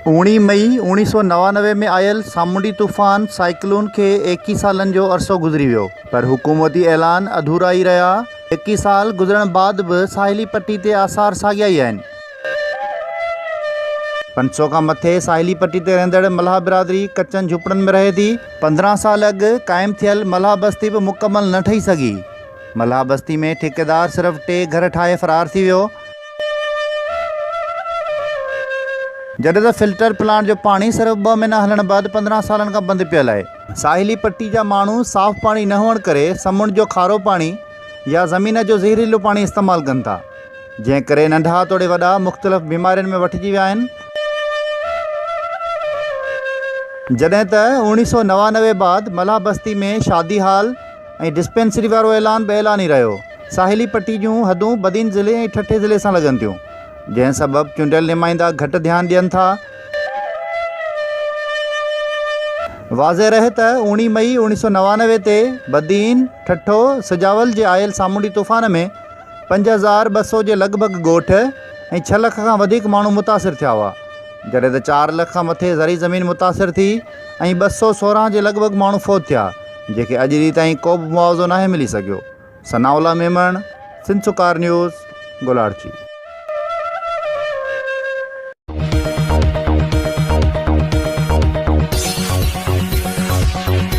اوڻي مئي اوڻيهه سؤ نوانوي ۾ آيل سامونڊي طوفان سائيڪلون کي ايڪيهه سالن جو عرصو گذري ويو پر حڪومتي اعلان اڌورا ئي رهيا ايڪيهه سال گذرڻ بعد به ساحلي پٽي تي آثار ساڳيا ئي آهن پنج سؤ کان مٿي ساحلي پٽي تي رهندڙ ملاح برادري ڪچن جهوپڙن ۾ رهي ٿي. پندرهن سال اڳ قائم ٿيل ملاح بستي به مڪمل نه ٺهي سگهي. ملاح بستي ۾ ٺيڪيدار صرف ٽي گهر ٺاهي فرار ٿي ويو. جڏهن ته فلٽر پلانٽ جو پاڻي صرف ٻه مهينا هلڻ بعد پندرهن سالن کان بند پيل آهي. ساحلي پٽي جا ماڻهو صاف پاڻي نه هئڻ ڪري سمنڊ جو کارو پاڻي يا زمين جو زهريلو پاڻي استعمال ڪن ٿا. جنهن ڪري ننڍا توڙي وڏا مختلف بيمارين ۾ وٺجي ويا آهن. جڏهن ته اوڻيهه سؤ نوانوي بعد ملاح بستي ۾ شادي هال ۽ ڊسپينسري وارو اعلان به اعلان ئي رهيو. ساحلي پٽي جون حدون بدين ضلعي ۽ ٺٽي ضلعي سان لڳن ٿيون، جنهن سبب چونڊيل نمائندا گهٽ ڌيان ڏين ٿا. واضح رهي ته اوڻيهه مئي اوڻيهه سؤ نوانوي تي بدين، ٺٽو، سجاول جي آيل سامونڊي طوفان ۾ پنج هزار ٻه سؤ جي لڳ ڀڳ ڳوٺ ۽ ڇهه لک کان وڌيڪ ماڻهو متاثر ٿيا هئا، جڏهن ته چار لک کان مٿي زرعي زمين متاثر ٿي ۽ ٻه سؤ سورهن جي لڳ ڀڳ ماڻهو فوت ٿيا، جنهن کي اڄ ڏينهن تائين ڪو به معاوضو ناهي ملي سگهيو. ثناء الله ميمڻ، سنڌسرڪار نيوز، گولاڙچي.